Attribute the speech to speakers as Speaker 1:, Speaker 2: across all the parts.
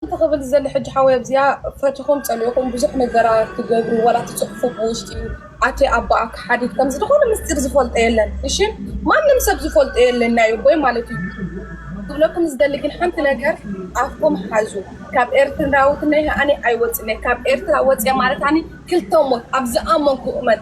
Speaker 1: ሓንቲ ክብል ዝደሊ ሕጂ ሓወይ ኣብዚኣ ፈቲኹም ጸሊእኹም ብዙሕ ነገራት ትገብሩ ዋላ ትጽሕፉ ብውሽጢ ኣቲ ኣቦኣ ክሓዲት ከም ዝኾነ ምስጢር ዝፈልጦ የለን እሺ ማንም ሰብ ዝፈልጦ የለን ናይ ኣቦይ ማለት እዩ ክብለኩም ዝደሊ ግን ሓንቲ ነገር ኣፍኩም ሓዙ ካብ ኤርትራውትነይ ኣነ ኣይወጽነ ካብ ኤርትራ ወጽየ ማለት ኣነ ክልተ ሞት ኣብ ዝኣመንኩ እመን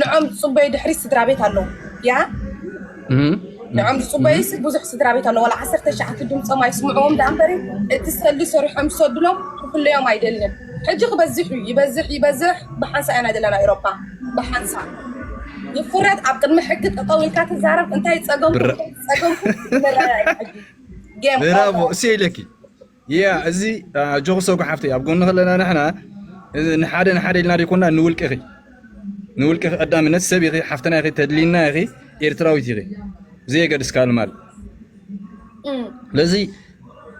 Speaker 1: ንዖም ዝፅበዩ ድሕሪት ስድራቤት ኣለዉ ድያ? ንዖም ዝፅበዩ ሲ ብዙሕ ስድራቤት ኣለዉ ዋላ ዓሰርተ ትሽዓተ ድምፆም ኣይስምዕዎም ደኣ እምበር እቲ ሰሊ ሰሪሖም ዝሰድሎም ክፍለዮም ኣይደልን ሕጂ ክበዝሕ እዩ ይበዝሕ ይበዝሕ ብሓንሳ ኢና ዘለና ኤሮፓ ብሓንሳ ይፍረድ ኣብ ቅድሚ ሕጊ ጠጠው ኢልካ ትዛረብ እንታይ ፀገምኩም ፀገምኩም ንረዳዳእ
Speaker 2: ሕጂ ጌም ብራቮ እሰይ ኢለኪ Yeah እዚ ኣጆኺ ሰጉ ሓፍተይ ኣብ ጎንኺ ኣለና ንሕና ንሓደ ንሓደ ኢልና ዘይኮና ንውልቅኺ ንውልቅኺ ቀዳምነት ሰብ ኢኺ ሓፍትና ኢኺ ተድሊና ኢኺ ኤርትራዊት ኢኺ ብዘየገድስ ካል ማል ስለዚ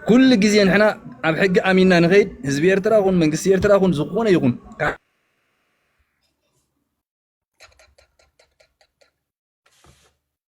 Speaker 2: ኩሉ ግዜ ንሕና ኣብ ሕጊ ኣሚንና ንኸይድ ህዝቢ ኤርትራ ኹን መንግስቲ ኤርትራ ኹን ዝኾነ ይኹን